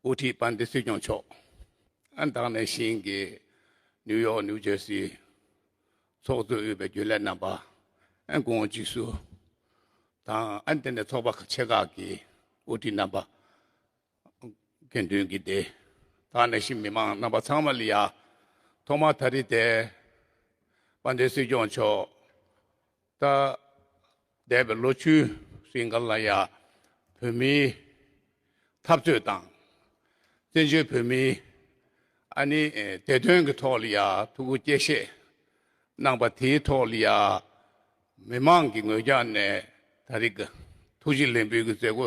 དབུ་ཁྲིད་པ་འདི་སྲིད་སྐྱོང་མཆོག་ཨ་མདང་ནས་ཤིང་གི་ནིའུ་ཡོག་ནིའུ་ཇེར་སི་ཚོགས་གཙོས་དབུས་པའི་རྒྱུན་ལས་རྣམ་པ་ཨ་དགོངས་བཅུས་སུ་དང་ཨ་འདི་ནས་ཚོགས་པ་ཆེ་ཁག་གི་དབུ་ཁྲིད་རྣམ་པ་དགེ་འདུན་གྱི་སྡེ་དག་ནས་ཤིང་མི་མང་རྣམ་པ་ཚང་མ་ལ་ཡ་ཐོག་མ་ད་རི་དེ་པ་འདི་སྲིད་སྐྱོང་མཆོག་ད་འདས་པའི་ལོ་བཅུའི་རིང་ག་ལ་ཡ་བོད་མིའི་འཐབ་རྩོད་དང། བཙན་བྱོལ་བོད་མིའི་ཨ་ནི་བདེ་དོན་གྱི་ཐོག་ལ་ཡ་ཐུགས་ཁུར་བསྐྱེད་བཞེས་གནང་པ་དེའི་ཐོག་ལ་ཡ་མི་མང་གི་ངོས་ཀྱང་ནས་ད་རིགས་ཐུགས་རྗེ་ལེགས་འབུལ་གྱི་མཛད་སྒོ་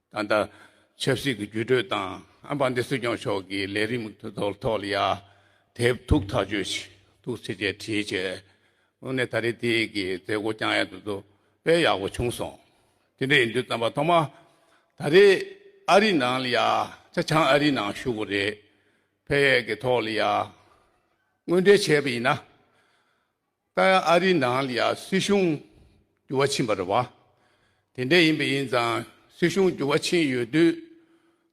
ད་ལྟ་ཆབ་སྲིད་ཀྱི་བརྒྱུད་སྤྲོད་དང་ཨམ་བྷ་འདི་སྲིད་སྐྱོང་མཆོག་གི་ལས་རིམ་གྱི་ཐོག་ལ་ཡང་དེབ་ཐུག་ཐག་གཅོད་བྱས་འདུག་ཟེར་ཆེད་བྲིས་བྱས། དངོས་གནས་ད་རེས་དེ་གའི་མཛད་སྒོ་བསྐྱངས་ཡག་འདུག་དཔེ་ཡག་པོ་བྱུང་སོང། དེ་འདྲ་ཡིན་དུས་བསམ་པ་ཐོག་མ་ད་རེས་ཨ་རིའི་ནང་ལ་ཡང་ཆ་ཆང་ཨ་རིའི་ནང་བཞུགས་པ་རེད། དཔེ་ཡག་གི་ཐོག་ལ་ཡང་དངོས་འབྲེལ་བྱས་པ་ཡིན་ན། ལྟར་ཨ་རིའི་ནང་ལ་ཡང་སྲིད་གཞུང་འགྱུར་བ་ཕྱིན་པ་རེད་བ། དེ་འདྲ་ཡིན་པ་ཡིན་ཙང་སྲིད་གཞུང་འགྱུར་བ་ཕྱིན་ཡོད་དུས།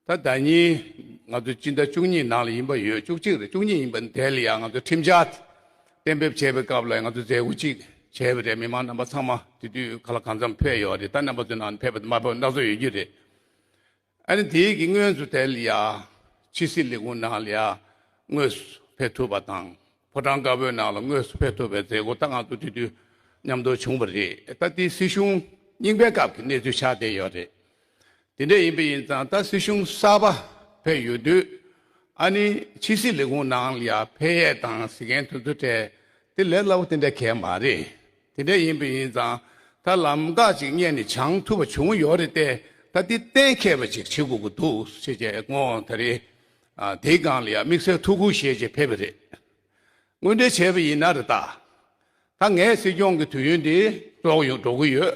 ད་ལྟ་ཉིན་ང་ཚོ་སྤྱི་ཟླ་བཅུ་གཉིས་ནང་ལ་ཡིན་པ་ཡོད་བཅུ་གཅིག་རེད་བཅུ་གཉིས་ཡིན་པ་དེ་ལ་ཡང་ང་ཚོ་ཁྲིམས་འཆར་གཏན་འབེབས་བྱས་པའི་སྐབས་ལ་ཡང་ང་ཚོ་མཛད་སྒོ་གཅིག་བྱས་པ་རེད་མི་མང་རྣམ་པ་ཚང་མ་དེ་དུས་ག་ལ་གང་འཚམས་ཕེབས་ཡོད་རེད་ད་རྣམ་པ་ཚོའི་ནང་ཕེབས་པ་དང་མ་ཕེབས་པ་སྣ་ཚོགས་ཡོད་རྒྱུ་རེད། ཨ་རི་དེའི་གི་དངོས་སུ་དེ་ལ་ཕྱི་སྲིད་ལས་ཁུངས་ནང་ལ་དངོས་སུ་ཕེབས་ཐུབ་པ་དང་ཕོ་བྲང་དཀར་པོའི་ནང་ལ་དངོས་སུ་ཕེབས་ཐུབ་པའི་མཛད་སྒོ་རྟ་སྒང་དུ་དེ་དུས་མཉམ་འདུག་བྱུང་བ་རེད་ད་ལྟའི་སྲིད་གཞུང་རྙིང་པའི་སྐབས་ཀྱི་གནས་ཚུལ་ཆགས་བསྡད་ཡོད་རེད། དེ་འདྲས་ཡིན་པ་ཡིན་ཙང་ད་སྲིད་གཞུང་གསར་པ་ཕེབས་ཡོད་དུས་ཨ་ནི་ཕྱི་སྲིད་ལས་ཁུངས་ནང་ལ་ཕེབས་ཡས་དང་གཟིགས་མཁན་དུ་འདུག་འཕྲལ་དེ་ལས་སླ་བོ་དེ་འདྲ་གལ་མ་རེད་དེ་འདྲ་ཡིན་པས་ཡིན་ཙང་ད་ལམ་འགག་ཅིག་རྙེད་ནས་བྱང་ཐུབ་པ་བྱུང་ཡོད་རེད་དེ་ད་འདི་གཏན་མཁས་པ་ཅིག་བྱེད་དགོས་ཀྱི་འདུག་ཤེས་བྱའི་དངོས་དེ་རེད། དེའི་སྒང་ལ་ཡང་དམིགས་བསལ་ཐུགས་ཁུར་བཞེས་ཆེད་ཕེབས་པ་རེད། དངོས་འབྲེལ་བྱས་པ་ཡིན་ན་རེད་ད། ད་ངས་སྲིད་སྐྱོང་གི་དུས་ཡུན་འདི་ལོག་ཡོང་འགྲོ་གི་ཡོད་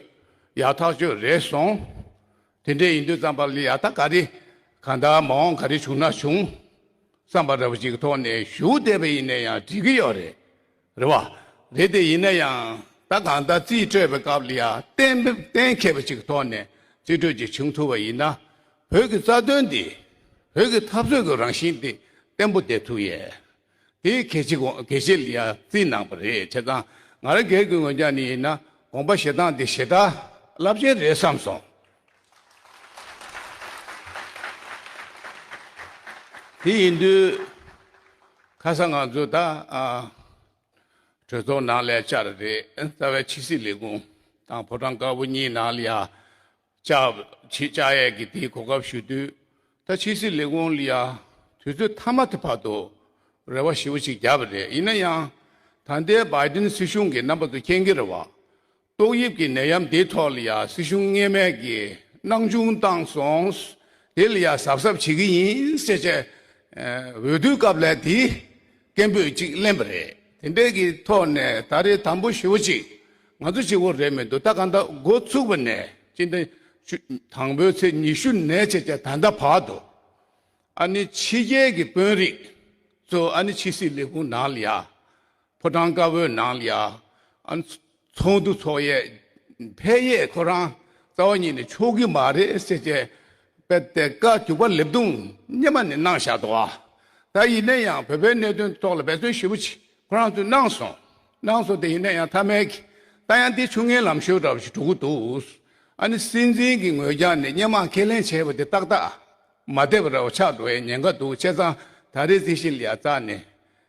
ཡག་ཐག་ཆོད་རེད་སོང། དེ་འདྲས་ཡིན་དུས་རྩམ་པ་ལ་ཡག་ཐག་ག་རེ་ག་ད་མ་འོངས་ག་རེ་བྱུང་ན་བྱུང། རྩམ་པ་ར་བ་ཅིག་གི་ཐོག་ནས་ཞུགས་བསྡད་པ་ཡིན་ན་ཡང་འགྲིག་གི་ཡོད་རེད། རེད་བ། རེད་དེ་ཡིན་ན་ཡང་ད་གང་ལྟར་རྩིས་སྤྲོད་པའི་སྐབས་ལ་ཡང་གཏན་གཏན་འཁེལ་བ་ཞིག་གི་ཐོག་ནས་རྩིས་སྤྲོད་ཅིག་བྱུང་ཐུབ་པ་ཡིན་ན་བོད་ཀྱི་རྩ་དོན་འདི་བོད་ཀྱི་འཐབ་རྩོད་ཀྱི་རང་བཞིན་འདི་བརྟན་པོ་བསྡད་ཐུབ་ཡས། དེ་གལ་ཆེ་གལ་ཆེ་ལ་ཡང་རྩིས་གནང་པ་རེད་བྱས་ཙང་ང་རང་སྒེར་གྱི་ངོས་ཀྱང་ནས་ཡིན་ན་དགོངས་པ་བཞེས་སྟངས་འདི་ཞེ་དྲག་རླབས་ཆེན་རེད་བསམ་སོང། དེ་ཡིན་དུས། ཁ་སང་ང་ཚོ་ད་གྲོས་ཚོགས་ནང་ལས་བཅར་རེད་རྩ་བའི་ཕྱི་སྲིད་ལས་ཁུངས་དང་ཕོ་བྲང་དཀར་པོ་གཉིས་ནང་ལ་ཡ་བྱེད་བཅའ་ཡས་ཀྱི་དེའི་གོ་སྐབས་ཞུས་དུས་ད་ཕྱི་སྲིད་ལས་ཁུངས་ལ་ཡ་དུས་ཚོད་མཐའ་མ་དེ་བར་དུ་རེ་བ་ཞིབ་པོ་ཞིག་བརྒྱབ་པ་རེད་ཡིན་ན་ཡང་ད་ལྟའི Biden སྲིད་གཞུང་གི་རྣམ་པ་ཚོ་མཁྱེན་གི་རེད་བ། ཏོག་དབྱིབས་ཀྱི་ནད་ཡམས་དེའི་ཐོག་ལ་ཡང་སྲིད་གཞུང་ངེས་མེད་ཀྱི་སྣང་ཆུང་བཏང་སོང། དེ་ལ་ཡང་གཟབ་གཟབ་བྱེད་ཀྱི་ཡིན་ཟེར་ཆེད་འོས་བསྡུའི་སྐབས་ལས་དེའི་སྐད་འབོད་ཅིག་གླེང་བ་རེད། དེ་འདྲའི་གི་ཐོག་ནས་ད་རེས་དམ་པོ་ཞེ་བོ་ཅིག་ང་ཚོ་བྱེད་དགོས་རེད་མི་འདུག་ད་ག་འདའ་འགོ་བཙུགས་པ་ནས་ཅི་འདའ། དང་པོའི་ཚེས་ཉི་ཤུ་ནས་བྱས་ཀྱང་ད་འདའ་བར་དུ་ཨ་ནི་ཕྱི་རྒྱལ་གྱི་དཔོན་རིགས་ཚོ་ཨ་ནི་ཕྱི་སྲིད་ལས་ཁུངས་ནང་ལ་ཡང་ཕོ་བྲང་དཀར་བོའི་ནང་ལ་ཡང་ཚོགས་འདུ་འཚོགས་ཡས་འཕེལ་ཡས་ཁོ་རང་རྩ་བ་ཉིད་ནས་ཆོག་གི་མ་རེད་ཟེར་ཅེས་པའི་དེ་ཀ་གྱུར་པ་ལེབ་རྡུང་སྙེ་མ་ནས་གནང་བཞག་འདུག་ད་ཡིན་ན་ཡང་བོད་པའི་གནད་དོན་ཐོག་ལ་འབད་བརྩོན་ཞེ་བོ་ཅིག་ཁོ་རང་ཚོས་གནང་སོང་གནང་སོང་དེ་ཡིན་ན་ཡང་མཐའ་མའི་གི་ད་ཡང་དེ་ཆུ་ངན་ལམ་ཤོད་འདྲ་བོ་ཞིག་གྲུབ་གི་འདུག་ཨ་ནི་སྲིད་འཛིན་གྱི་ངོས་ཀྱང་ནས་སྙེ་མ་ཁས་ལེན་བྱས་པ་དེ་ཏག་ཏག་མ་བསྡད་པ་འདྲ་བོ་ཆགས་འགྲོ་ཡའི་ཉེན་ཁ་འདུག་བྱས་ཙང་ད་རེས་དེ་བཞིན་ལ་ཡ་རྩ་ནས་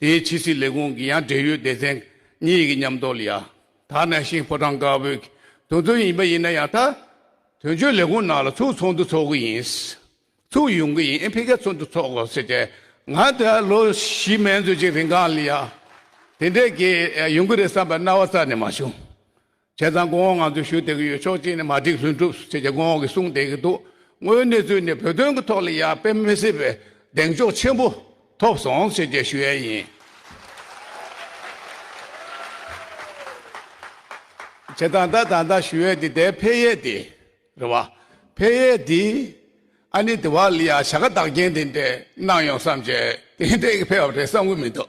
དེའི་ཕྱི་སྲིད་ལས་ཁུངས་ཀྱི་ཡང་འབྲེལ་ཡོད་སྡེ་ཚན་གཉིས་ཀྱི་མཉམ་འདོགས་ལ་ཡ་ཐ་ན་ཤིང་ཕོ་བྲང་དཀར་པོའི་དོན་ཚན་ཡིན་པ་ཡིན་ན་ཡང་ད་དོན་གཅོད་ལས་ཁུངས་ནང་ལ་ཚུགས་ཚོགས་འདུ་ཚོགས་ཀྱི་ཡིན། ཚུགས་ཡོང་གི་ཡིན་འཕེལ་རྒྱས་ཚོགས་འདུ་ཚོགས་དགོས་ཟེར་ཏེ་ང་དེ་ལོ་བཞི་མན་ཚོད་ཅིག་རིང་སྒང་ལ་ཡ་དེ་འདྲས་ཀྱི་ཡོང་གི་རེད་བསམ་པའི་རྣ་བ་རྩ་ནས་མ་བྱུང། བྱས་ཙང་གོང་འོག་ང་ཚོས་ཞུ་བསྡད་ཀྱི་ཡོད་ཕྱོགས་གཅིག་ནས་མ་འགྲིག་ལྷུན་གྲུབ་ཟེར་ཅེས་གོང་འོག་གིས་གསུངས་བསྡད་ཀྱི་འདུག་དངོས་གནས་ཚུལ་ནི་བོད་དོན་གྱི་ཐོག་ལ་ཡར་འཕེལ་མི་སྲིད་པའི་གདེང་འཇོག་ཆེན་པོ་ཐོབ་སོང་ཟེར་རྒྱ་ཞུ་ཡས་ཡིན། བྱས་ཙང་ད་ད་ལྟ་ཞུ་ཡས་དེ་དེ་འཕེལ་ཡས་དེ་རེད་བ། འཕེལ་ཡས་དེ་ཨ་ནི་དེ་བ་ལ་ཡར་བྱ་དགའ་བདག་རྐྱེན་དེ་འདྲས་གནང་ཡོང་བསམ་བྱས་དེ་འདྲས་ཀྱི་འཕེལ་བ་རེད་བསམ་གྱི་མི་འདུག་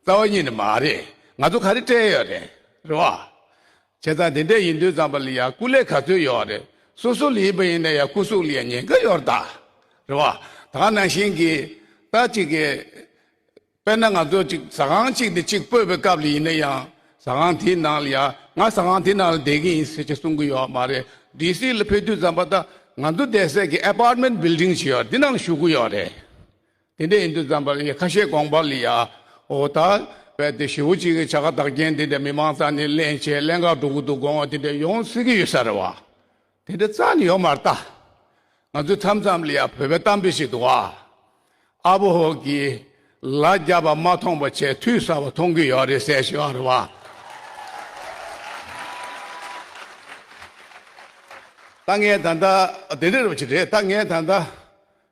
རྩ་བ་ཉིད་ནི་མ་རེད། ང་ཚོ་ག་རེ་སྤྲད་ཡོད་རེད། རེད་བ། བྱས་ཙང་དེ་འདྲས་ཡིན་དུས་ཙམ་པ་ལི་ཡ་སྐུ་ལས་ག་ཚོད་ཡོད་བ་རེད། སོ་སོ་ལི་ཡིན་པ་ཡིན་ན་ཡ་སྐུ་གཟུགས་ལི་ཡ་ཉེན་ཁ་ཡོད་རེད་ད། རེད་བ། ད་ནང་བཞིན་གྱི། ད་ཅིག་གི། དཔེར་ན་ང་ཚོ་ཅིག་ཟ་ཁང་ཅིག་ནས་ཅིག་སྤོས་པའི་སྐབས་ལི་ཡིན་ན་ཡང། ཟ་ཁང་དེའི་ནང་ལི་ཡ་ང་ཟ་ཁང་དེའི་ནང་ལ་བསྡད་གི་ཡིན་ཟེར་གྱི་གསུང་གི་ཡོད་མ་རེད། ལྡི་སི་ལ་ཕེབས་དུས་ཙམ་པ་ད་ང་ཚོ་བསྡད་སའི་གི Apartment Building ཅིག་ཡོད་རེད་དེ་ནང་ལ་ཞུགས་གི་ཡོད་རེད། དེ་འདྲའི་ཨིན་དུ་ཛམྦྷ་ལའི་ཁ་བཤད་དགོངས་པ་ལས་ཡའོ། ད་བལ་དུ་ཞི་བོ་གཅིག་གི་བྱ་དགའ་བདག་རྐྱེན་དེ་འདྲ་མི་མང་རྩ་ནས་གླེང་བྱས་གླེང་ག་དྲུག་ཏུ་དགོངས་བ་དེ་འདྲ་ཡོང་སྲིད་ཀྱི་ཡོད་ས་རེད་བ། དེ་འདྲ་རྩ་ནས་ཡོང་མ་རྟ། ང་ཚོའི་མཚམས་མཚམས་ལ་ཡང་བོད་པའི་གཏམ་དཔེ་ཞིག་འདུག་ཨ། ཨ་བོ་ཧོ་གིས་ལ་རྒྱ་བ་མ་མཐོང་བ་ཆེས་འཐུས་ས་བ་མཐོང་གི་ཡོད་རེད་ཟེར་ཞིག་ཨ་རེད་བ། ད་ངས་ད་ལྟ་དེ་འདྲ་རེད་བ་ཅི་རེད་ད་ངས་ད་ལྟ་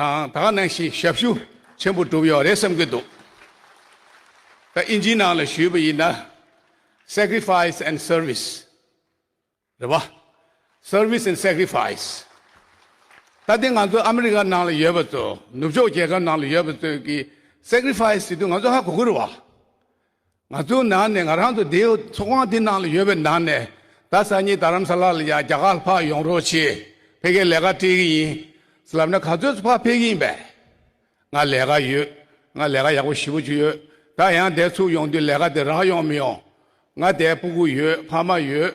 དང་ད་ནང་བཞིན་ཞབས་ཞུ་ཆེན་པོ་བསྒྲུབས་ཡོད་རེད་བསམ་གྱི་འདུག་ད་ཨིན་ཇིའི་ནང་ལ་ཞུས་པ་ཡིན་ན། Sacrifice and Service། རེད་བ། Service and Sacrifice། ད་དེ་ང་ཚོ་ཨ་མི་རི་ཀ་ནང་ལ་ཡོད་པ་ཚོ་ནུབ་ཕྱོགས་རྒྱལ་ཁབ་ནང་ལ་ཡོད་པ་ཚོས་ཀྱིས Sacrifice བྱེད་དུས་ང་ཚོ་ཧ་གོ་གི་རེད་བ། ང་ཚོའི་ནང་ནས་ང་རང་དུ་དེའི་ཚོགས་ཁང་དེའི་ནང་ལ་ཡོད་པའི་ནང་ནས་ད་སང་ཉིན་དར་རམ་ས་ལ་ལ་ཡང་རྒྱ་གར་ཕག་ཡོང་རོགས་བྱེད་ཕེ་ཁའི་ལས་ཀ་སྤྲད་གི་ཡིན། ལབ་ན་ག་ཚོད་སུ་ཕག་ཕེབས་ཀྱི་ཡིན་པས། ང་ལས་ཀ་ཡོད་ང་ལས་ཀ་ཡག་པོ་ཞིབ་པོ་བྱུ་ཡོད་ད་ཡང་དེ་ཚུགས་ཡོང་དུས་ལས་ཀ་དེ་རག་ཡོང་མི་ཡོང་ང་དེ་སྤུ་གུ་ཡོད་ཕ་མ་ཡོད།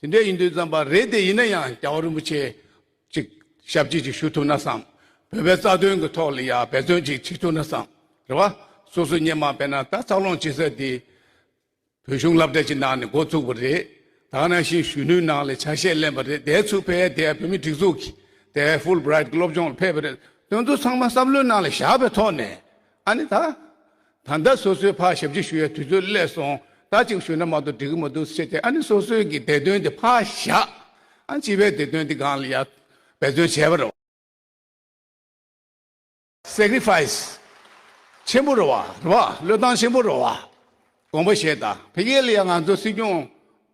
དེ་འདྲས་ཡིན་དུས་བརྩམས་པ་རེད་དེ་ཡིན་ན་ཡང་རྒྱ་བོད་རིན་པོ་ཆེ་ཅིག་ཞབས་ཕྱི་ཅིག་ཞུ་ཐུབ་ན་བསམ། བོད་པའི་རྩ་དོན་གི་ཐོག་ལ་ཡང་འབད་བརྩོན་ཅིག་བྱེད་ཐུབ་ན་བསམ། རེད་བ། སོ་སོ་སྙེ་མ་བས་ན་ད་ཚགས་ལོང་བྱེད་ས་དེ་བོད་གཞུང་བསླབ་གྲྭ་ཅིག་ནང་ནས་འགོ་བཙུགས་པ་རེད། དག་ན་ཤིང་གཞོན་ནུའི་ནང་ལས་ཆ་ཤས་གླེན་པ་རེད་དེའི་ཚུགས་ཕལ་དེ་བོད་མི་སྒྲིག་འཛུགས་ཀྱི་དེ་ཧྥུལ་བྲ་ཡིད་ཀྱི་སློབ་སྦྱོང་ལ་ཕེབས་པ་རེད་དོན་དུ་ཚང་མ་བསམ་བློའི་ནང་ལས་བཞག་པའི་ཐོག་ནས་ཨ་ནི་ད། ད་ལྟ་སོ་སོའི་ཕར་ཞབས་ཕྱི་ཞུ་ཡ་དུས་ཚོད་བསླེས་སོང་ད་གཅིག་ཞུ་ན་མ་གཏོགས་འགྲིག་གི་མ་འདུག་ཟེར་ཏེ་ཨ་ནི་སོ་སོའི་གི་བདེ་དོན་དེ་ཕར་བཞག་ཨ་སྤྱི་བའི་བདེ་དོན་དེ་སྒང་ལ་ཡར་འབད་བརྩོན་བྱས་པ་རེད་བ། Sacrifice། ཆེན་པོ་རེད་བ་རེད་བ་བློས་བཏང་ཆེན་པོ་རེད་བ། དགོངས་པ་བཞེས་དང་ཕེ་ཁེ་ལ་ཡང་ང་ཚོ་སྲིད་སྐྱོང་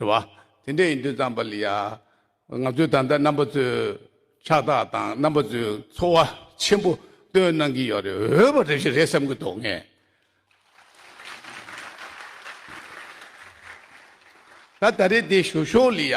རེད་བ། དེ་འདྲ་ཡིན་དུས་ཙམ་པ་ལི་ཡ། ང་ཚོའི་ད་ལྟ་རྣམ་པ་ཚོའི་ཕྱག་རྟགས་དང་རྣམ་པ་ཚོའི་འཚོ་བ་ཆེན་པོ་སྟོན་གནང་གི་ཡོད་རེད་འོས་པ་རེ་ཞིག་རེད་བསམ་གི་འདུག་ངས། ད་ད་རེ་འདི་ཞུ་ཞོར་ལི་ཡ།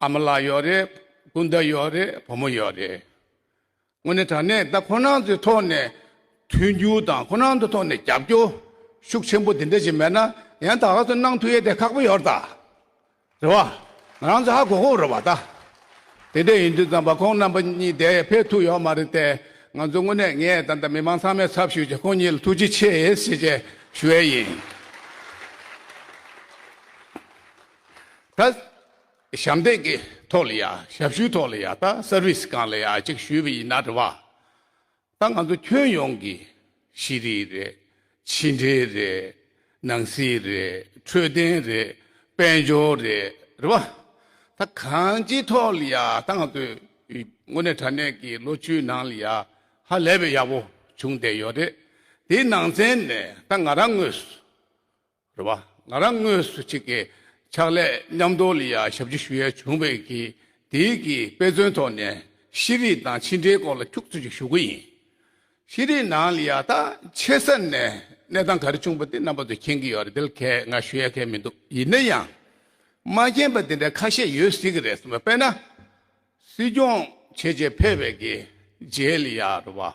ཨ་མ་ལགས་ཡོད་རེད། སྤུན་ཟླ་ཡོད་རེད་བུ་མོ་ཡོད་རེད། དངོས་གནས་དྲ་གནས་བདག་ཁོ་ནང་ཚོའི་ཐོག་ནས་མཐུན་འགྱུར་དང་ཁོ་ནང་ཚོའི་ཐོག་ནས་རྒྱབ་སྐྱོར་ཤུགས་ཆེན་པོ་དེ་འདྲ་ཞིག་མེད་ན་ཡང་ད་ག་ཚོད་གནང་ཐུབ་ཡས་དེ་ཁག་པོ་ཡོད་རད། རེད་བ། ང་རང་ཚོ་ཧ་གོ་གོ་རེད་བ་ད། དེ་འདྲ་ཡིན་དུས་ཙམ་པ་ཁོང་རྣམ་པ་གཉིས་དེ་ཕེབས་ཐུབ་ཡོད་མ་རེད་དེ་ང་ཚོ་དངོས་གནས་ངས་ད་ལྟ་མི་མང་ཚང་མས་ཚབ་ཞུས་རྗེས་ཁོང་གཉིས་ལ་ཐུགས་རྗེ་ཆེ་ཞེས་ཞུ་ཡས་ཡིན། ད་ཞབས་འདེགས་ཀྱི་ཐོག་ལ་ཡ་ཞབས་ཞུའི་ཐོག་ལ་ཡ་ད Service གང་ལ་ཡ་ཅིག་ཞུས་པ་ཡིན་ན་དྲི་བ། ད་ང་ཚོ་ཁྱོན་ཡོངས་ཀྱི་ཤེས་རིག་རེད། ཕྱི་འབྲེལ་རེད། ནང་སྲིད་རེད། འཕྲོད་བསྟེན་རེད། དཔལ་འབྱོར་རེད། རེད་པ། ད་གང་ཅིའི་ཐོག་ལ་ཡ་ད་ང་ཚོས་དངོས་གནས་དྲ་གནས་ཀྱི་ལོ་བཅུའི་ནང་ལ་ཡ་ཧ་ལས་པའི་ཡག་པོ་བྱུང་བསྡད་ཡོད་རེད། དེའི་ནང་ཚན་ནས་ད་ང་རང་དངོས་སུ། རེད་བ། ང་རང་དངོས་སུ་གཅིག་གི་ཕྱག་ལས་མཉམ་འདོར་ལ་ཡང་ཞབས་ཕྱི་ཞུ་ཡ་བྱུང་བས་ཀྱི་དེའི་གི་དཔེ་མཚོན་ཐོག་ནས་ཤེས་རིག་དང་ཕྱི་འབྲེལ་སྐོར་ལ་ཁྱུག་ཚོད་ཅིག་ཞུ་གི་ཡིན། ཤེས་རིག་ནང་ལ་ཡང་ཐག་ཆེ་ས་ནས་གནས་སྟངས་ག་རེ་བྱུང་བ་དེ་རྣམ་པ་ཚོ་མཁྱེན་གི་ཡོད་རེད་དེ་གས་ང་ཞུ་ཡ་གས་མི་འདུག་ཡིན་ན་ཡང་མ་མཁྱེན་པ་དེ་འདྲ་ཁ་ཤས་ཡོད་སྲིད་གི་རེད་སེམས་པ་དཔེར་ན་སྲིད་སྐྱོང་བྱས་རྗེས་ཕེབས་བས་ཀྱི་རྗེས་ལ་ཡང་རེད་བ།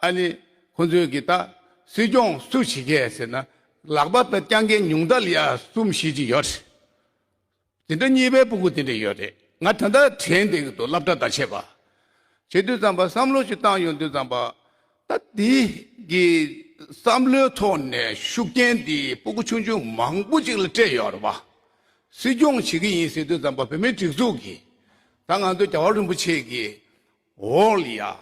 ཨ་ནི། ཁོ་ཚོས་གིས་ད། སྲིད་སྐྱོང་སུ་བྱེད་ཀྱི་ཡ་ཟེར་ན། ལག་པ་དང་རྐྱང་རྐྱེན་ཉུང་དག་ལ་ཡ་གསུམ་བཤད་ཀྱི་ཡོད་རེད། དེ་འདྲ་གཉིས་པའི་སྤུ་གུ་དེ་འདྲ་ཡོད་རེད། ང་ད་ལྟ་དྲན་འདི་འདུག་སླབ་གྲ་ད་བྱས་པ། བྱེད་དུས་ཙམ་པ་བསམ་བློ་ཞིག་བཏང་ཡོང་དུས་ཙམ་པ། ད་དེ་གི་བསམ་བློའི་ཐོག་ནས་ཤུགས་རྐྱེན་དེ་སྤུ་གུ་ཆུང་ཆུང་མང་པོ་ཅིག་ལ་སྤྲད་ཡོད་རེད་བ། སྲིད་སྐྱོང་བྱེད་ཀྱི་ཡིན་ཟེར་དུས་ཙམ་པ་བོད་མིའི་སྒྲིག་འཛུགས་ཀྱིས། ད་ང་ཚོ་རྒྱ་བ་རིན་པོ་ཆེ་གིས། འོག་ལ་ཡང་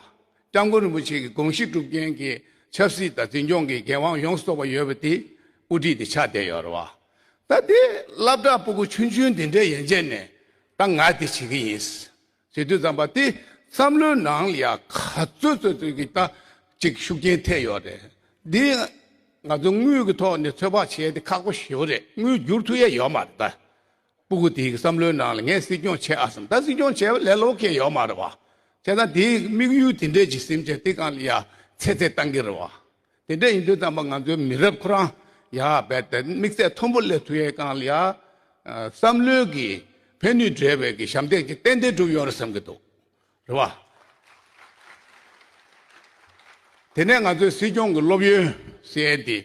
སྐྱབས་མགོན་རིན་པོ་ཆེ་གི་དགོངས་གཞི་སྒྲུབ་མཁན་གྱི་ཆབ་སྲིད་དང་འཛིན་སྐྱོང་གི་འགན་དབང་ཡོངས་སུ་རྟོགས་པ་ཡོད་པ་དེ་དབུ་ཁྲིད་དེ་ཆགས་བསྡད་ཡོད་རེད་བ། ད་དེ་བླ་བྲག་སྤུ་གུ་ཆུང་ཆུང་འདི་འདྲའི་ཡན་ཆད་ནས་ད་ང་དེ་བྱེད་ཀྱི་ཡིན། ཟེར་དུས་བརྩམས་པ་དེ་བསམ་བློའི་ནང་ལ་ཡང་ག་ཚོད་ཚོད་ཚོད་ཀྱིས་ད་ཅིག་ཤུགས་རྐྱེན་ཐེབས་ཡོད་རེད། འདི་ང་ཚོ་དངུལ་གྱི་ཐོག་ནས་ཚོད་དཔག་བྱས་ཏེ་ཁག་པོ་ཞེ་བོ་རེད་དངུལ་བསྒྱུར་ཐུབ་ཡས་ཡོད་མ་རེད་ད། པུ་གུ་དེའི་བསམ་བློའི་ནང་ལ་ངས་སྲིད་སྐྱོང་བྱེད་ཨ་སམ་ད་སྲིད་སྐྱོང་བྱེད་ལས་ལོག་གི་ཡོད་མ་རེད་བ། བྱས་ཙང་དེའི་དམིགས་ཡུལ་དེ་འདྲས་ཀྱི་སེམས་ཅན་དེ་གང་ལ་ཡ་ཚེ་ཚད་བཏང་གི་རེད་བ། དེ་འདྲས་ཡིན་དུས་ཙམ་པ་ང་ཚོའི་མི་རབས་ཁོ་རང་ཡ་རྦད་དེ་དམིགས་ཚད་མཐོན་པོ་སླེབས་ཐུབ་ཡས་གང་ལ་ཡ། བསམ་བློའི་གི་ཕན་ནུས་འདྲས་པའི་གི་ཞབས་འདེགས་ཀྱི་ཏན་ཏན་གྲུབ་ཡོང་རེད་བསམ་གི་འདུག་རེད་བ། དེ་ནས་ང་ཚོའི་སྲིད་སྐྱོང་གི་སློབ་ཡོན་བསད་དེ།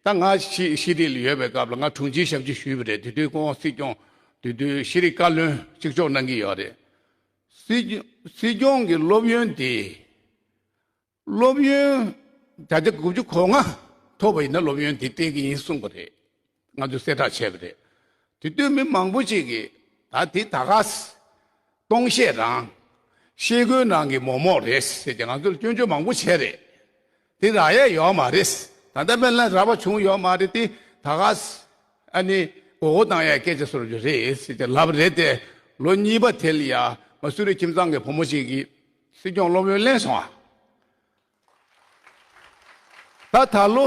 ད་ང་ཕྱིས་ཤི་རིལ་ཡོད་པའི་སྐབས་ལ་ང་དྲུང་ཆེའི་ཞབས་ཕྱི་ཞུས་པ་རེད་དེ་དུས་ཁོང་སྲིད་སྐྱོང་དུས་དུས་ཤི་རིལ་བཀའ་བློན་གཅིག་ལྕོགས་གནང་གི་ཡོད་རེད། སྲིད་སྲིད་སྐྱོང་གི་སློབ་ཡོན་དེ། སློབ་ཡོན་ད་ལྟ་དགུ་བཅུ་གོ་ལྔ་ཐོབ་པ་ཡིན་ན་སློབ་ཡོན་དེ་སྤྲད་ཀྱི་ཡིན་གསུངས་པ་རེད། ང་ཚོས་གསལ་བསྒྲགས་བྱས་པ་རེད། དེ་ལྟོས་མེད་མང་པོ་ཅིག་གིས་ད་དེ་ད་ག་སྟོང་བཤད་རང། ཤེས་དགོས་ནང་གི་མོག་མོག་རེད་ཟེར་གྱི་ང་ཚོར་སྐྱོན་བརྗོད་མང་པོ་བྱས་རེད། དེ་རག་ཡས་ཡོག་མ་རེད། ད་ལྟ་མན་ལ་རག་པ་བྱུང་ཡོག་མ་རེད་དེ་ད་ག་ཨ་ནི་གོ་གོ་བཏང་ཡས་སྐད་ཆ་ཟེར་རྒྱུ་རེད་ཟེར་གྱི་ལབ་རེད་དེ་ལོ་གཉིས་པ་དེ་ལ་ཡ་མ་སུ་རི་ཁྱིམ་ཚང་གི་བུ་མོ་ཅིག་གིས་སྲིད་སྐྱོང་སློབ་ཡོན་གླེང་སོང་ཨ། ད་ད་ལོ་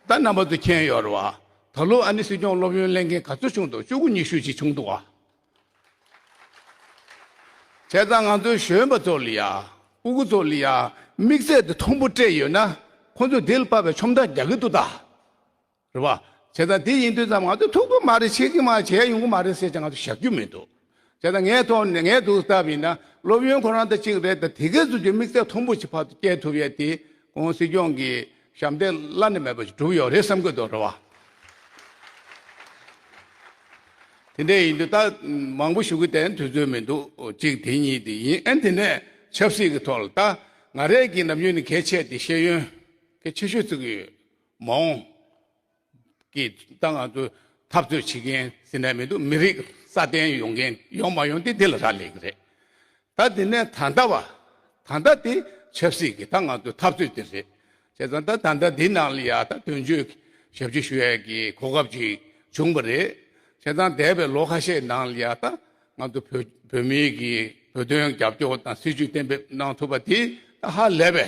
ད་རྣམ་པ་ཚོ་མཁྱེན་ཡོད་རེད་བ། ད་ལོ་ཨ་ནི་སྲིད་སྐྱོང་སློབ་ཡོན་གླེང་མཁན་ག་ཚོད་བྱུང་འདུག་བཅུ་དགུ་ཉི་ཤུ་ཅིག་བྱུང་འདུག་ཨ། བྱས་ཙང་ང་ཚོའི་གཞོན་པ་ཚོ་ལ་ཡ། སྤུ་གུ་ཚོ་ལ་ཡ། དམིགས་བསལ་དུ་ཐུམ་པོ་སྤྲད་ཡོད་ན། ཁོ་ཚོས་དེ་ལ་དཔའ་བའི་ཆོམ་སྒྲ་རྒྱག་གི་འདུག་ད། རེད་པ། བྱས་ཙང་དེ་ཡིན་དུས་ཙམ་ང་ཚོས་ཐུག་གི་མ་རེད་བྱེད་ཀྱི་མ་རེད་བྱས་ཡོང་གི་མ་རེད་ཟེར་ཀྱང་ང་ཚོ་བཞག་རྒྱུ་མི་འདུག་བྱས་ཙང་ངའི་ཐོག་ནས་ངའི་སྡུག་སྟབས་ཡིན་ན་སློབ་ཡོན་ཁོ་རང་ད་གཅིག་རེད་ད་དེ་གས་ཟུར་གྱི་དམིགས་ཚད་མཐོན་པོ་ཞིག་ཕར་དུ་བསྐྱལ་ཐུབ་ཡས་དེ་གོང་སྲིད་སྐྱོང་གི་ཞབས་འདེགས་བླ་ན་མེད་པ་ཞིག་གྲུབ་ཡོད་རེད་བསམ་གྱི་འདུག་རེད་པ། དེ་འདྲས་ཡིན་དུས་ད་མང་པོ་ཞུ་གི་དེ་དུས་ཚོད་མི་འདུག་གཅིག་དེ་གཉིས་དེ་ཡིན་ཨན་དེ་ནས་ཆབ་སྲིད་ཀྱི་ཐོག་ལ་ད་ང་རས་ཀྱི་ནམ་རྒྱུན་ནས་གས་ཆད་དེ་ཤེས་ཡོན་གས་ཆེ་ཤོས་བརྩི་གི་ཡོད། མ་འོངས་ཀྱི་ཏང་ནང་དུ་འཐབ་རྩོད་བྱེད་མཁན་ཟེར་ན་མི་འདུག་མི་རིགས་སྲ་བརྟན་ཡོང་མཁན་ཡོང་མ་ཡོང་དེ་དེ་ལ་རག་ལས་ཀྱི་རེད། ད་དེ་ནས་ད་ལྟ་བ། ད་ལྟ་དེ་ཆབ་སྲིད་ཀྱི་ཏང་ནང་དུ་འཐབ་རྩོད་དེ་རེད། བྱས་ཙང་ད་ད་ལྟ་འདི་ནང་ལ་ཡང་ད་དོན་གཅོད་ཞབས་ཕྱི་ཞུ་ཡ་ཀྱི་གོ་སྐབས་ཅིག་བྱུང་བ་རེད། བྱས་ཙང་འདས་པའི་ལོ་ཁ་ཤས་ནང་ལ་ཡང་ད་ང་ཚོ་བོད་བོད་མིའི་གི་བོད་དོན་རྒྱབ་སྐྱོར་དང་སྲིད་ཇུས་གཏན་འབེབས་གནང་ཐུབ་པ་དེ་ད་ཧ་ལས་པའི་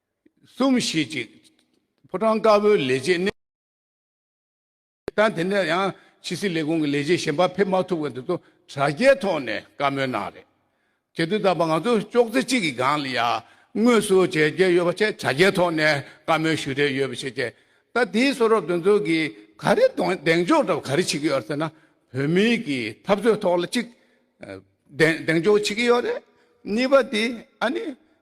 གསུམ་བཞི་ཅིག། ཕོ་བྲང་དཀར་པོའི་ལས་བྱེད་གནས། ལྟར་དེ་ནས་ཡང་ཕྱི་སྲིད་ལས་ཁུངས་ཀྱི་ལས་བྱེད་གཞན་པ་ཕེབས་མ་ཐུབ་པ་དེ་ཚོ་དྲ་རྒྱའི་ཐོག་ནས་བཀའ་མོལ་གནང་རེད། བྱེད་དུ་བཏང་པ་ང་ཚོ་ཅོག་ཙེ་གཅིག་གི་སྒང་ལ་ཡང་དངོས་སུ་བྱས་རྒྱ་ཡོད་པ་བཅས་དྲ་རྒྱའི་ཐོག་ནས་བཀའ་མོལ་ཞུ་རེ་ཡོད་པ་བྱས་རྗེས་ད་དེའི་གསོ་རོགས་དོན་ཚོགས་ཀྱིས་ག་རེ་གདེང་འཇོག་ལྟ་བུ་ག་རེ་བྱེད་ཀྱི་ཡོད་ཟེར་ན་བོད་མི་གི་འཐབ་རྩོད་ཐོག་ལ་གཅིག་གདེང་འཇོག་བྱེད་ཀྱི་ཡོད་རེད། གཉིས་པ་དེ་ཨ་ནི།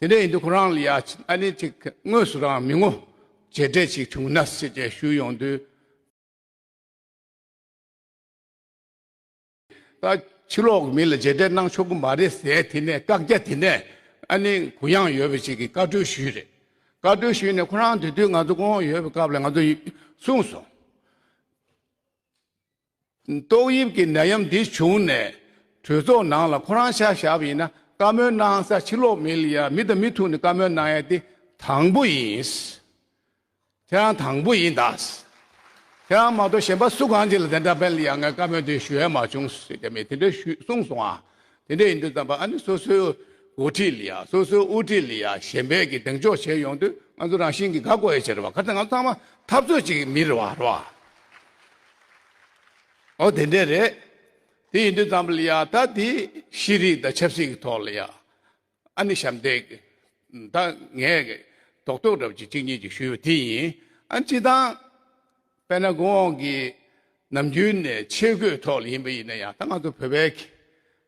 དེ་ནས་ཡིན་དུས་ཁོ་རང་ལ་ཡ་ཆེ་ཨ་ནེ་ཅིག་གིས་དངོས་སུ་རང་མི་ངོ། བྱས་འབྲས་ཅིག་བྱུང་ན་སྲིད་ཅེས་ཞུས་ཡོང་དུས། ད་ཕྱི་ལོག་གི་མི་ལ་བྱས་འབྲས་གནང་ཆོག་གི་མ་རེད་ཟེར་དེ་ནས་བཀག་རྒྱ་དེ་ནས་ཨ་ནེ་གུ་ཡངས་ཡོད་པ་ཅིག་གིས་བཀའ་འཁྲོལ་ཞུས་རེད། བཀའ་འཁྲོལ་ཞུས་ནས་ཁོ་རང་འདུས་དུས་ང་ཚོ་དགོང་འོག་ཡོད་པའི་སྐབས་ལ་ང་ཚོ་གསུངས་སོང། ཏོག་དབྱིབས་ཀྱི་ནད་ཡམས་འདི་བྱུང་ནས་གྲོས་ཚོགས་ནང་ལ་ཁོ་རང་ཤག་ཞབས་ཡིན་ན་བཀའ་མོལ་གནང་ས་ཕྱི་ལོག་མི་ལ་མི་དང་མི་ཐུག་ནས་བཀའ་མོལ་གནང་ཡ་དེ་དང་པོ་ཡིན། ཁྱེད་རང་དང་པོ་ཡིན་ད། ཁྱེད་རང་མ་གཏོགས་གཞན་པ་སུ་གང་ཅི་ལ་དེ་འདྲ་དཔེ་ལ་ཡ་ངའི་བཀའ་མོལ་དེ་ཞུ་ཡ་མ་བྱུང་ཟེར་གྱི་མེད་དེ་འདྲ་ཞུས་གསུངས་སོང་ཨ། དེ་འདྲ་ཡིན་དུས་ཙམ་པ་ཨ་ནི་སོ་སོའི་འགོ་ཁྲིད་ལ་ཡ་སོ་སོའི་དབུ་ཁྲིད་ལ་ཡ་གཞན་པའི་གི་གདེང་འཇོག་བྱས་ཡོང་དུས་ང་ཚོ་རང་བཞིན་གི་དགའ་གོ་ཡ་ཆེ་རེད་བ་ག་ཚད་ང་ཚོ་ཚང་མ་འཐབ་རྩོད་ཅིག་མི་རེད་བ་རེད་བ། ཨོ་དེ་འདྲས་རེད། དེ་ཡིན་དུས་ཙམ་ལ་ཡང་ད་དེ་ཤེས་རིག་དང་ཆབ་སྲིད་ཀྱི་ཐོག་ལ་ཡང་ཨ་ནི་ཞབས་འདེགས་ད་ངས་ཐོག་ཐོག་འདྲ་བོ་ཅིག་གཅིག་གཉིས་ཅིག་ཞུས་པ་དེ་ཡིན་ཨ་ནི་སྤྱི་བཏང་པད་ན་གོང་འོག་གི་ནམ་རྒྱུན་ནས་ཆས་གོས་ཐོག་ལ་ཡིན་པ་ཡིན་ན་ཡང་ད་ང་ཚོ་བོད་པའི་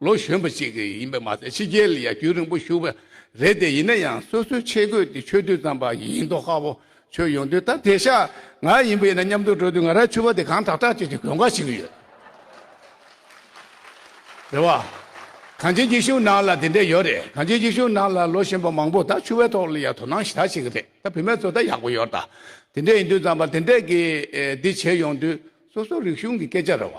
ལོ་གཞོན་པ་ཞིག་ཡིན་པ་མ་ཟད་ཕྱི་རྒྱལ་ལ་ཡར་སྐྱོད་རིང་པོ་ཞུགས་པ་རེད་དེ་ཡིན་ན་ཡང་སོ་སོའི་ཆས་གོས་དེ་ཆོས་དུས་ཙམ་པ་ཡིན་མདོག་ཁ་བོ་ཆོས་ཡོང་དུས་ད་དེ་ཤ་ང་ཡིན་པ་ཡིན་ན་མཉམ་དུ་འགྲོ་དུས་ང་ར་ཆུ་བ་དེ་གང་དྲག་དྲག་བྱེད་ཀྱི་གོན་ཁ་ཞིག་ཡོད་རེད་བ། གངས་ཅན་སྐྱིད་གཤོངས་ནང་ལ་དེ་འདྲས་ཡོད་རེད་གངས་ཅན་སྐྱིད་གཤོངས་ནང་ལ་ལོ་གཞོན་པ་མང་པོ་ད་ཆུ་བའི་ཐོག་ལ་ཡར་དོ་སྣང་ཞིག་ཞིག་རེད་ད་བུད་མེད་ཚོ་ད་ཡག་པོ་ཡོད་ད་དེ་འདྲས་ཡིན་དུས་ཙམ་པ་དེ་འདྲས་ཀྱི་འདི་བྱས་ཡོང་དུས་སོ་སོ་རིག་གཞུང་གི་སྐད་ཆ་རེད་བ།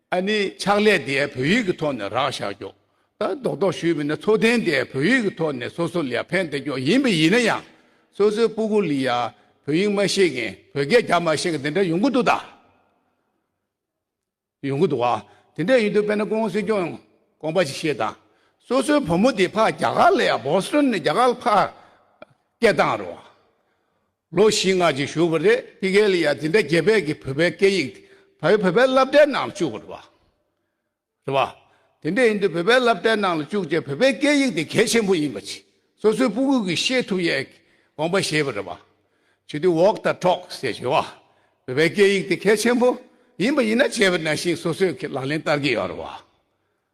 ཨ་ནི་ཕྱག་ལས་དེ་བོད་ཡིག་གི་ཐོག་ནས་རག་བཞག་རྒྱོ། ད་རྡོག་རྡོག་ཞུས་མིན་ན་འཚོ་རྟེན་དེ་བོད་ཡིག་གི་ཐོག་ནས་སོ་སོ་ལ་ཕན་བདེ་རྒྱོ་ཡིན་པ་ཡིན་ན་ཡང། སོ་སོའི་སྤུ་གུ་ལི་ཡ་བོད་ཡིག་མ་ཤེས་མཁན་བོད་སྐད་རྒྱ་མ་ཤེས་མཁན་དེ་འདྲ་ཡོང་གི་འདུག་ད། ཡོང་གི་འདུག་བ། དེ་འདྲ་ཡིན་དུས་དཔེར་ན་ཀུན་སློང་སྲིད་སྐྱོང་ཡང་དགོངས་པ་ཞིག་བཞེས་དང། སོ་སོའི་བུ་མོ་དེ་ཕ་རྒྱ་གར་ལ་ཡ Boston ནས་རྒྱ་གར་ལ་ཕ་སྐད་བཏང་རོགས། ལོ་བཞི་ལྔ་ཅིག་བཞུགས་པ་རེད་དེ་གའི་ལི་ཡ་དེ་འདྲ་རྒྱལ་བལ་གྱི་བོད་པའི་སྐད་ཡིག་དེ་བལ་བོད་པའི་བསླབ་གྲྭའི་ནང་ལ་བཅུག་པ་རེད་པ། རེད་པ། དེ་འདྲ་ཡིན་དུས་བོད་པའི་བསླབ་གྲྭའི་ནང་ལ་བཅུག་རྗེས་བོད་པའི་སྐད་ཡིག་དེ་གལ་ཆེན་པོ་ཡིན་པ་ཆེ་སོ་སོའི་སྤུ་གུས་ཀྱིས་ཤེས་ཐུབ་ཡའི་དགོངས་པ་བཞེས་པ་རེད་པ། བྱེད་དུས walk the talk ཞེས་བྱེད་པ། བོད་པའི་སྐད་ཡིག་དེ་གལ་ཆེན་པོ་ཡིན་པ་ཡིན་ན་བྱས་པ་ནང་བཞིན་སོ་སོས་ལག་ལེན་བསྟར་གྱི་ཡོད་རེད་པ།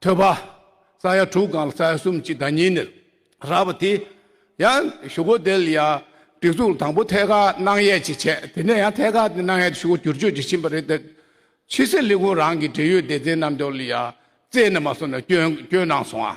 ཐོས་པ། ས་ཡ་དྲུག་གང་ལ་ས་ཡ་གསུམ་གཅིག་དང་གཉིས་ནི་རགས་པ་དེ། ཡང་ཞུ་སྒོ་དེ་ལ་ཡང་སྒྲིག་འཛུགས་དང་པོ་ཐད་ཀར་སྣང་ཡས་ཀྱིས་བྱས་དེ་ནས་ཡང་ཐད་ཀར་སྣང་ཡས་ཀྱི་ཞུ་སྒོ་བསྒྱུར་བཅོས་ཀྱིས་ཕྱིན་པ་རེད་དེ། ཕྱི་སེར་ལི་ཀུང་རང་གིས་འབྲེལ་ཡོད་སྡེ་ཚན་རྣམས་ཀྱང་ལ་ཡང་བཙལ་ནས་མ་སོང་ནས་སྐྱོན་སྐྱོན་གནང་སོང་ཨ།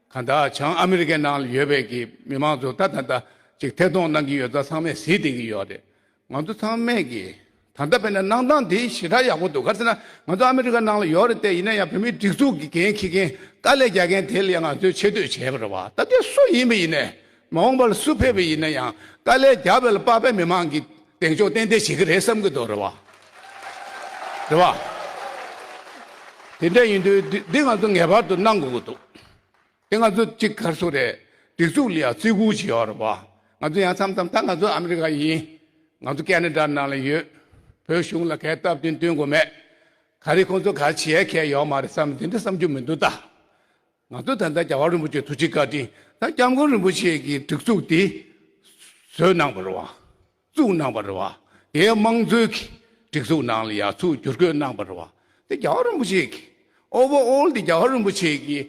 གང་དག་བྱང་ཨ་མི་རི་ཀའི་ནང་ལ་ཡོད་པའི་གི་མི་དམངས་ཚོ་ད་ད་ད་ཅིག་ཐད་གཏོང་གནང་གི་ཡོད་ད་ཚང་མས་གཟིགས་བསྡད་ཀྱི་ཡོད་རེད། ང་ཚོ་ཚང་མས་གི་ད་ལྟ་བས་ན་གནང་སྟངས་དེ་ཞེ་དྲག་ཡག་པོ་འདུག་ག་ཚོད་ན་ང་ཚོ་ཨ་མི་རི་ཀ་ནང་ལ་ཡོད་རེད་དེ་ཡིན་ན་ཡང་བོད་མིའི་སྒྲིག་འཛུགས་གི་འགན་འཁྱེར་མཁན་དཀའ་ལས་རྒྱག་མཁན་དེ་ལ་ཡང་ང་ཚོས་ཆེ་བསྟོད་བྱེད་པར་རེད་བ་ད་དེ་སུ་ཡིན་པ་ཡིན་ནས་མ་འོངས་པར་སུ་ཕེབས་པ་ཡིན་ན་ཡང་དཀའ་ལས་རྒྱ་བལ་དཔག་པའི་མི་མང་གིས་གདེང་འཇོག་ཏན་ཏན་བྱེད་ཀྱི་རེད་བསམ་གྱི་འདུག་རེད་བ། རེད་བ། དེ་འདྲ་ཡིན་དུས་འདི་ང་ཚོ་ངེས་པར་དུ་གནང་དགོས་ཀྱི་འདུག་དེ་ང་ཚོ་གཅིག་གར་སོང་རེད་སྒྲིག་འཛུགས་ལ་ཡང་བརྩི་བཀུར་བྱེད་ཡོང་རེད་བ། ང་ཚོ་ཡང་མཚམས་མཚམས་ད་ང་ཚོ་ཨ་མི་རི་ཀ་ཡིན། ང་ཚོ་ཀེ་ནེ་ཏར་ནང་ལ་ཡོད། བོད་གཞུང་ལ་གད་སྟབས་དེ་འདོན་དགོས་མེད། ག་རེ་ཁོང་ཚོ་ག་རེ་བྱེད་མཁན་ཡོད་མ་རེད་བསམ་འདི་འདྲ་བསམ་རྒྱུ་མི་འདུག་ད། ང་ཚོ་ད་ལྟ་རྒྱ་གར་རིན་པོ་ཆེ་ཐུགས་རྗེ་བཀའ་དྲིན་དང་སྐྱབས་མགོན་རིན་པོ་ཆེ་གི་སྒྲིག་འཛུགས་དེ་བཟོས་གནང་བར་བ་བཙུགས་གནང་བར་བ་དེའི་དམངས་གཙོའི་གི་སྒྲིག་འཛུགས་ནང་ལ་ཡར་ཚུགས་བསྒྱུར་བཀོད་གནང་བར་བ་དེ་རྒྱ་གར་རིན་པོ་ཆེ་གི Over all དེ་རྒྱ་གར་རིན་པོ་ཆེ་གི་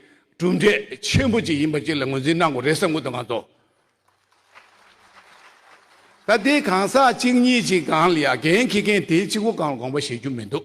གྲུབ་འབྲས་ཆེན་པོ་ཅིག་ཡིན་པ་ཅིག་ལ་ངོས་འཛིན་གནང་དགོས་རེད་བསམ་ཀུ་དང་ང་ཚོ། ད་དེ་གང་ཟག་གཅིག་གཉིས་ཅིག་གང་ལ་ཡ་འགན་འཁྱེར་མཁན་དེ་གཅིག་པོ་གང་ལ་དགོངས་པ་བཞེས་རྒྱུ་མི་འདུག་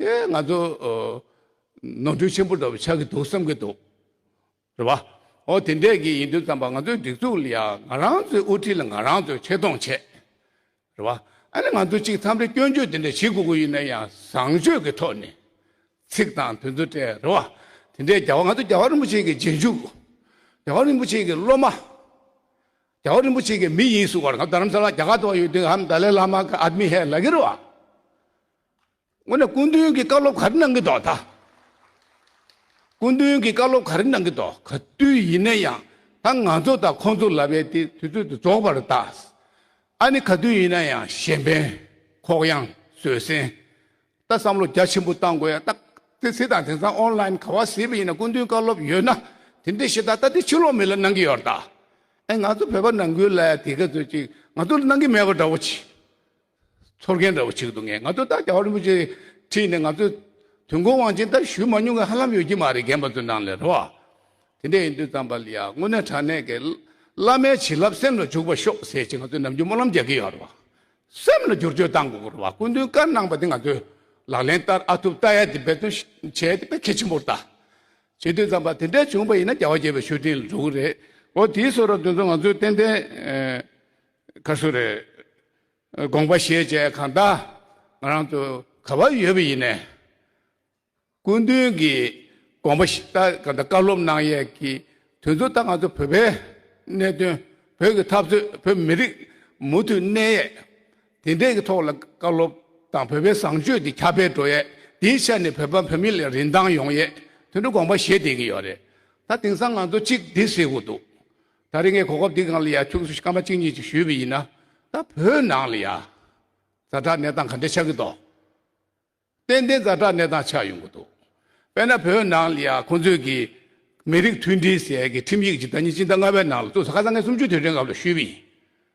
ཨེ་ང་ཚོ་ནོར་འཁྲུལ་ཆེན་པོ་འདྲ་བོ་ཆགས་ཀྱི་འདུག་བསམ་གྱི་འདུག་རེད་པ། ཨོ་དེ་འད་གི་ཡིན་དུས་བསམ་པ་ང་ཚོའི་སྒྲིག་འཛུགས་ལ་ཡང་ང་རང་ཚོའི་དབུ་ཁྲིད་ལ་ང་རང་ཚོས་ཆེ་མཐོང་བྱས། རེད་པ། ཨ་ནི་ང་ཚོ་གཅིག་འཚམས་རེ་སྐྱོན་བརྗོད་དེ་འད་བྱེད་དགོས་ཀྱི་ཡོད་ན་ཡང་བཟང་སྤྱོད་ཀྱི་ཐོག་ནས། ཚིག་དང་དུས་ཚོད་སྤྲད་རེད་པ། དེ་འད་རྒྱལ་བ་ང་ཚོ་རྒྱལ་བ་རིན་པོ་ཆེ་གི་རྗེས་འཇུག། རྒྱལ་བ་རིན་པོ་ཆེ་གི་སློབ་མ། རྒྱལ་བ་རིན་པོ་ཆེ་གི་མི་ཡིན་གསུང་བར་ང་རྡ་རམ་ས་ལ་རྒྱ་གར་དུ་བ་ཡོད་དུས་ཧམ་ད་ལའི་བླ་མ་གི་ཨ་དམི་ཧེ་ལ་གི་རེད་པ། ངོས་ནས་སྐུ་མདུན་གྱི་བཀའ་སློབ་ག་རེ་གནང་གི་འདོག་ད། སྐུ་མདུན་གྱི་བཀའ་སློབ་ག་རེ་གནང་གི་འདོག་ག་དུས་ཡིན་ན་ཡང་ད་ང་ཚོ་དང་ཁོང་ཚོ་ལ་བས་དེ་དུས་ཚོད་དུ་རྫོགས་པར་གདའ། ཨ་ནི་ག་དུས་ཡིན་ན་ཡང་གཞན་ཕན། ཁོག་ཡངས། བཟོད་བསྲན། ད་བསམ་བློ་རྒྱ་ཆེན་པོ་གཏང་དགོས་ཡ་ད། ཙི་ཙི་དང་དེང་སང་ཨོན་ལཱིན་ག་བ་ཟེར་བ་ཡིན་ན་སྐུ་མདུན་བཀའ་སློབ་ཡོད་ན་དེ་འདྲས་ཤེས་ད་ད་དེ་ཕྱི་ལོག་མི་ལ་གནང་གི་ཡོད་ར་ད། ཨེ་ང་ཚོ་བོད་པ་ནང་ཁུལ་ལ་ཡང་དེ་ག་ཚོད་ཅིག་ང་ཚོ་ལ་གནང་གི་མེད་པ་འདྲ་བོ་ཆེ། ཚོར་མཁན་འདྲ་བོ་ཞིག་འདུག་ངས་ང་ཚོ་ད་ཀྱཱ་རིན་པོ་ཆེ་ཁྲིད་ནས་ང་ཚོས་དུས་འཁོར་དབང་ཆེན་ལྟར་ཞུས་མ་མྱོང་གི་ཧ་ལམ་ཡོད་ཀྱི་མ་རེད་རྒན་པ་ཚོའི་ནང་ལས་རོ། དེ་འདྲས་ཡིན་དུས་ཙམ་པ་ལ་ཡ་དངོས་གནས་དྲང་གནས་ཀྱི་བླ་མའི་བྱིན་རླབས་སེམས་ལ་འཇུག་པར་ཤོག་ཟེར་ཅིག་ང་ཚོས་ནམ་རྒྱུན་སྨོན་ལམ་རྒྱག་གི་ཡོད་རེད། སེམས་ལ་བསྒྱུར་བཅོས་བཏང་དགོས་གི་རེད་སྐུ་མདུན་བཀའ་གནང་པ་དེ་ང་ཚོས་ལག་ལེན་བསྟར་ཨ་ཐུབ་ལྟ་ཡ་དེ་འབད་བརྩོན་བྱས་ཏེ་དཔེ་གལ་ཆེན་པོར་བལྟ། བྱེད་དུས་ཙམ་པ་དེ་འདྲས་བྱུང་བ་ཡིན་ན་ཀྱཱ་བ་རྒྱལ་བའི་ཤོད་ཕྲིན་ལས་འགྲོ་གི་རེད། འོ་དེའི་སོ་ར་དོན་ཚོ་ང་ཚོས་ཏན་ཏན་ག་སུ་རེད། དགོངས་པ་བཞེས་བཅས་གང་ལྟ་ང་རང་དུ་ག་བ་ཡོད་པ་ཡིན། སྐུ་མདུན་གྱི་དགོངས་པ་བཞེས་ལྟ་གང་ལྟ་བཀའ་སློབ་གནང་ཡས་ཀྱི་དུས་ཚོད་ལྟ་ང་ཚོ་བོད་པའི་གནད་དོན་བོད་ཀྱི་འཐབ་རྩོད་བོད་མི་རིགས་མུ་མཐུད་གནས་ཡས་དེ་འདྲས་ཀྱི་ཐོག་ལ་བཀའ་སློབ་དང་བོད་པའི་བཟང་སྤྱོད་དེ་ཁྱབ་སྤེལ་འགྲོ་ཡས་དེའི་ཆ་ནས་བོད་པ་བོད་མི་ལ་རིན་ཐང་ཡོང་ཡས་དེ་འདྲ་དགོངས་པ་བཞེས་བསྡད་ཀྱི་ཡོད་རེད་ད་དེང་སང་ང་ཚོ་གཅིག་བསྡད་སྲིད་དགོས་འདུག་ད་རེས་ངས་གོ་སྐབས་འདི་གང་ལ་ཡང་ཁྱོད་ཚོས་སྐར་མ་གཅིག་གཉིས་ཅིག་ཞུས་པ་ཡིན་ན། ད་བོད་ནང་ལ་ཡང་ཛ་དྲག་གནས་སྟངས་ག་འདྲས་ཆགས་ཀྱི་འདུག། ཏན་ཏན་ཛ་དྲག་གནས་སྟངས་ཆགས་ཡོང་གི་འདུག་དཔེར་ན་བོད་ནང་ལ་ཡང་ཁོང་ཚོས་ཀྱི་མི་རིགས་མཐུན་སྒྲིལ་ཟེར་གྱི་ཁྲིམས་ཡིག་ཅིག་ཟླ་གཉིས་སྤྱི་ཟླ་ལྔ་བའི་ནང་ལ་བཙུགས་སོ་ཁ་སང་ངས་སུམ་ཅུ་དུས་དྲན་སྐབས་ལ་ཞུས་པ་ཡིན།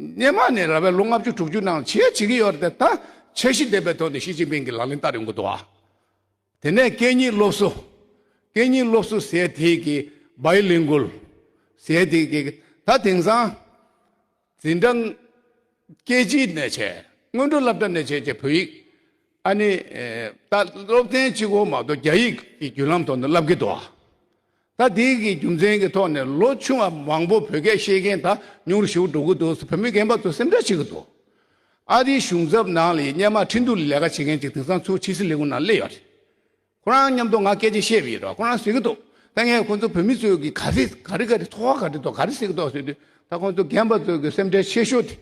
སྙེ་མ་ནས་ར་བའི་ལོ་ལྔ་བཅུ་དྲུག་ཅུ་ནང་བྱེད་བྱེད་ཀྱི་ཡོད་རེད་ད་འཆར་གཞི་ལྡན་པའི་ཐོག་ནས་ཞི་ཅིན་ཕིང་གི་ལག་ལེན་བསྟར་ཡོང་གི་འདུག་ཨ། དེ་ནས་སྐད་གཉིས་སློབ་གསོ། སྐད་གཉིས་སློབ་གསོ་ཟེར་དེ་གི། Bilingual། ཟེར་དེ་གི། ད་དེང་སང། འཛིན་གྲྭ། སྐད་གཅིག་ནས་བྱས། སྔོན་འགྲོ་བསླབ་གྲྭ་ནས་བྱས་བྱས་བོད་ཡིག། ཨ་ནི། ད་སློབ་ཚན་གཅིག་གོ་མ་གཏོགས་རྒྱ་ཡིག་གི་བརྒྱུད་ལམ་ཐོག་ནས་བསླབ་ཀྱི་འདུག་ཨ། ད་དེ་གི་རྒྱུ་མཚན་གྱི་ཐོག་ནས་ལོ་ཆུང་བ་མང་པོ་བོད་སྐད་ཤེས་མཁན་དག་ཉུང་རུ་ཞུགས་འགྲོ་གི་འདུག་བོད་མི་རྒན་པ་ཚོ་སེམས་ཁྲལ་བྱེད་ཀྱི་འདུག་ཨ་རིའི་གཞུང་ཚབ་ནང་ལ་ཡི་སྙན་མ་འཕྲིན་བསྡུ་ལས་ཀ་བྱེད་མཁན་ཅིག་དེང་སང་ཚུ་ཆི་སི་ལི་ཁུང་ནང་སླེབས་ཡོད་རེད། ཁོ་རང་མཉམ་དུ་ང་སྐད་ཆ་བཤད་པ་ཡིན་རོགས་ཁོ་རང་ཟེར་གྱི་འདུག་ད་ངས་ཁོ་ཚོ་བོད་མི་ཚོས་གི་ག་རེ་ག་རེ་ག་རེ་ཐོག་ག་རེ་ཐོག་ག་རེ་ཟེར་གྱི་འདུག་ཟེར་དུས་ད་ཁོ་ཚོ་རྒན་པ་ཚོས་གི་སེམས་ཁྲལ་ཆེ་ཤོས་དེ་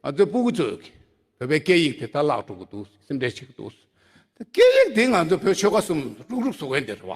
ང་ཚོའི་སྤུ་གུ་ཚོས་གི་བོད་པའི་སྐད་ཡིག་དེ་ད་བརླག་འགྲོ་གི་འདུག་སེམས་ཁྲལ་བྱེད་གི་འདུག་ཟེར། ད་སྐད་ཡིག་དེ་ང་ཚོ་བོད་ཆོལ་ཁ་གསུམ་རུག་རུག་བཟོ་གི་འདི་རེད་བ།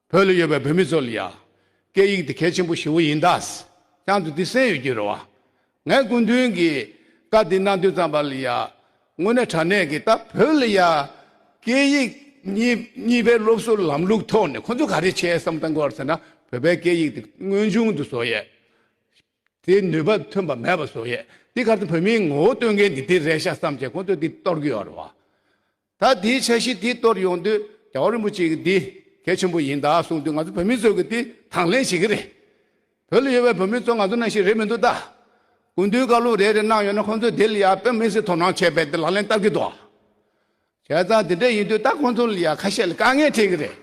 བོད་ལ་ཡོད་པའི་བོད་མི་ཚོ་ལ་ཡང། སྐད་ཡིག་འདི་གལ་ཆེན་པོ་ཞེ་བོ་ཡིན་དྭགས། ཀྱང་དུ་འདི་གསན་ཡོད་ཀྱི་རེད་བ། ངས་སྐུ་མདུན་གྱི་བཀའ་འདི་གནང་དུས་ཙམ་པ་ལ་ཡང། དངོས་གནས་དྲ་གནས་ཀྱི་ད་བོད་ལ་ཡང། སྐད་ཡིག་གཉིས་པའི་སློབ་གསོ་ལམ་ལུགས་ཐོག་ནས་ཁོ་ཚོ་ག་རེ་བྱས་སམ་ལྟ་འགོར་ཟེར་ན་བོད་པའི་སྐད་ཡིག་འདི་དངོས་བྱུང་དུ་བཟོ་ཡས། དེ་ནུས་པ་ཐོན་པ་མེད་པ་བཟོ་ཡས། དེ་གར་དུ་བོད་མིའི་ངོ་བོ་སྟོན་མཁན་འདི་དེ་རེད་ཤག་བསམ་བྱས་ཁོ་ཚོས་འདི་གཏོར་གྱི་ཡོད་རེད་བ། ད་དེའི་འཆར་གཞི་དེ་གཏོར་ཡོང་དུས་རྒྱལ་བ་རིན་པོ་ཆེ་གིས་འདི་གལ་ཆེན་པོ་ཡིན་ད་གསུངས་དུས་ང་ཚོ་བོད་མི་ཚོས་ཀྱི་དེ་དང་ལེན་བྱེད་ཀྱི་རེད། བོད་ལ་ཡོད་པའི་བོད་མི་ཚོ་ང་ཚོ་ནང་བཞིན་རེད་མི་འདུག་ད། དགུན་དུས་བཀའ་སློབ་རེ་རེ་གནང་ཡོང་ན་ཁོང་ཚོས་དེ་ལ་ཡང་བོད་མི་སེར་དོ་སྣང་བྱས་པས་དེ་ལག་ལེན་བསྟར་གྱི་འདུག་བྱས་ཙང་དེ་འདྲ་ཡིན་དུས་ད་ཁོང་ཚོ་ལ་ཡང་ཁ་ཤས་ལ་དཀའ་ངལ་འཕྲད་ཀྱི་རེད།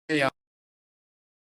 བ།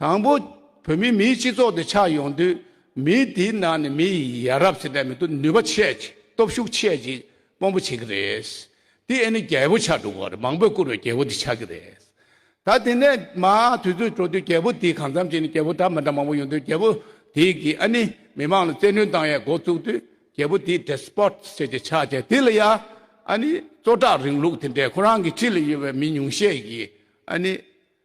དང་པོ། བོད་མི་མིའི་སྤྱི་ཚོགས་དེ་ཆགས་ཡོང་དུས་མི་དེའི་ནང་ནས་མི་ཡི་ཡ་རབས་ཟེར་སྒྲ་མི་འདུག་ནུས་པ་ཆེད་ཀྱི་སྟོབས་ཤུགས་ཆེད་ཀྱི་དཔོན་པོ་བྱེད་ཀྱི་རེད། དེ་ཨེ་ནི་རྒྱལ་པོ་ཆགས་འགྲོ་གི་རེད་མང་པོས་བཀུར་བའི་རྒྱལ་པོ་དེ་ཆགས་ཀྱི་རེད། ད་དེ་ནས་མ་དུས་ཚོད་འགྲོ་དུས་རྒྱལ་པོ་དེའི་གང་འཚམ་བྱས་ནས་རྒྱལ་པོ་འདྲ་མི་འདྲ་མང་པོ་ཡོང་དུས་རྒྱལ་པོ་དེ་གིས་ཨ་ནི་མི་མང་ལ་བཙན་གནོན་བཏང་ཡའི་འགོ་བཙུགས་དུས་རྒྱལ་པོ་དེའི Despot ཟེར་གྱི་ཆགས་ཀྱི་དེ་ལ་ཡ་ཨ་ནི་གཙོ་བཀྲག་རིང་ལུགས་དེ་འདྲས་ཁོ་རང་གི་ཕྱི་ལ་ཡོད་པའི་མི་ཉུང་ཤས་ཀྱིས་ཨ་ནི་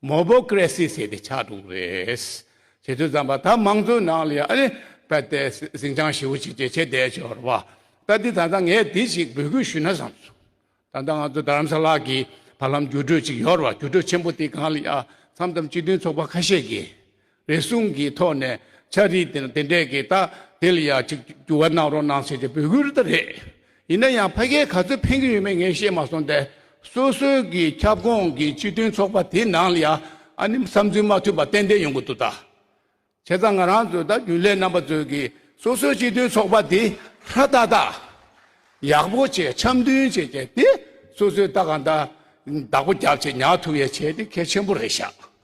མོ་པོ་ཀི་རེ་སི་ཟེར་ཏེ་ཆགས་འདུག་རེད། ཁྱེད་ཚོའི་རྩམ་པ་ད་མང་གཙོའི་ནང་ལ་ཡང་ཨ་པད་དེ་ཟིང་ཆང་ཞིབ་བོ་ཅིག་བྱེད་ཆེད་བསྡད་ཞོར་བ་ད་འདི་ད་ལྟ་ངས་དེ་ཞིག་འབོད་སྐུལ་ཞུས་ན་བསམ་སོང། ད་ལྟ་ང་ཚོ་རྡ་རམ་ས་ལ་གི་བར་ལམ་འགྱུར་འགྲོས་ཅིག་ཡོར་བ་འགྱུར་འགྲོས་ཆེན་པོ་དེ་གང་ལ་ཡང་འཚམ་འཚམ་སྤྱི་མཐུན་ཚོགས་པ་ཁ་ཤས་ཀྱིས་རེ་ཟུང་གི་ཐོག་ནས་ཆ་རིས་དེ་འདྲས་ཀྱི་རྟགས་དེ་ལ་ཡང་གཅིག་འགྱུར་བ་གནང་རོགས་གནང་ཞེས་ཀྱི་འབོད་སྐུལ་དེ་རེད། ཡིན་ན་ཡང་ཕ་སྐད་ག་ཚོད་ཕན་གྱི་ཡོད་མེད་ངས་ཤེས་མ་སོང་སྟེ། སོ་སོའི་གི་ཁྱབ་ཁོངས་ཀྱི་སྤྱི་མཐུན་ཚོགས་པ་དེ་ནང་ལ་ཡང་ཨ་ནི་བསམ་ཚུལ་མ་འཐུས་པ་ཏན་ཏན་ཡོང་གི་འདུག་ད། བྱས་ཙང་ང་རང་ཚོའི་ད་རྒྱུན་ལས་རྣམ་པ་ཚོས་གི་སོ་སོའི་སྤྱི་མཐུན་ཚོགས་པ་དེ་ཧྲ་ཏག་ཏག། ཡག་པོ་བྱས་འཆམ་མཐུན་བྱས་བྱས་ཏེ་སོ་སོའི་ལྟ་གང་ལྟ་བདག་པོ་རྒྱབ་བྱས་ཉག་ཐུ་བའི་བྱས་དེ་གལ་ཆེན་པོ་རེད་ཤག།